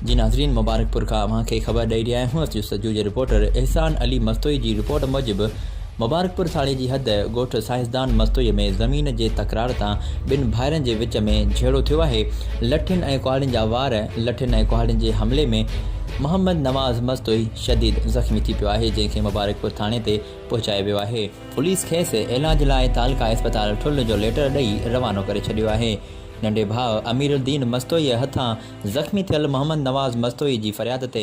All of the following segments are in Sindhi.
جي ناظرين مبارڪپور کان اوهان کي خبر ڏئي رهيا آهيون اسٽو سچو جي رپورٽر احسان علي مستوئي جي رپورٽ موجب مبارڪپور ٿاڻي جي حد ڳوٺ سائنسدان مستوئي ۾ زمين جي تڪرار تان ٻن ڀائرن جي وچ ۾ جهيڙو ٿيو آهي لٺين ۽ ڪهاڙين جا وار لٺين ۽ ڪهاڙين جي حملي ۾ محمد نواز مستوئي شديد زخمي ٿي پيو آهي جنهن کي مبارڪپور ٿاڻي تي پهچايو ويو آهي پوليس کيس علاج لاء تعلقه اسپتال ٺل جو ليٽر ڏئي روانو ڪري ڇڏيو آهي. ننڍي ڀاء اميرالدين مستوئيء هٿان زخمي ٿيل محمد نواز مستوئي جي فرياد تي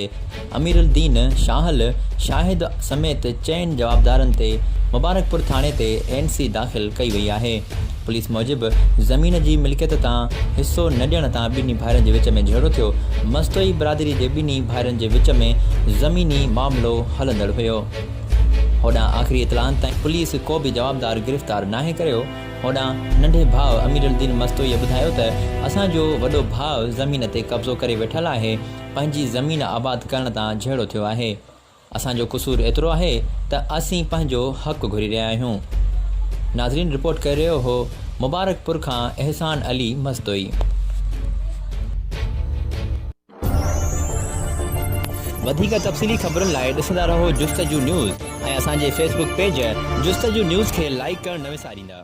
اميرالدين شاهل شاهد سميت چئن جوابدارن تي مبارڪپور ٿاڻي تي اين سي داخل ڪئي وئي آهي. پوليس موجب زمين جي ملڪيت تان حصو نه ڏيڻ تان ٻنهي ڀائرن جي وچ ۾ جهيڙو ٿيو. مستوئي برادري جي ٻنهي ڀائرن جي وچ ۾ زميني معاملو هلندڙ هيو. هوڏانهن آخري اطلاعن تائين پوليس ڪو به جوابدار گرفتار ناهي ڪريو، هوڏانهن ننڍي ڀاء اميرالدين مستوئيء ٻڌايو ته اسان جو وڏو ڀاء زمين تي قبضو ڪري ويٺل آهي، پنهنجي زمين آباد ڪرڻ تان جهيڙو ٿيو آهي. اسان جو قصور ايترو آهي ته اسين پنهنجو حق گهري رهيا آهيون. ناظرين رپورٽ ڪري رهيو هو مبارڪپور کان احسان علي مستوئي. وڌيڪ تفصيلي خبرن لاء ڏسندا رهو جستجو نيوز ۽ اسان جي Facebook page Justuju news کي لائيڪ ڪرڻ نه وساريندا.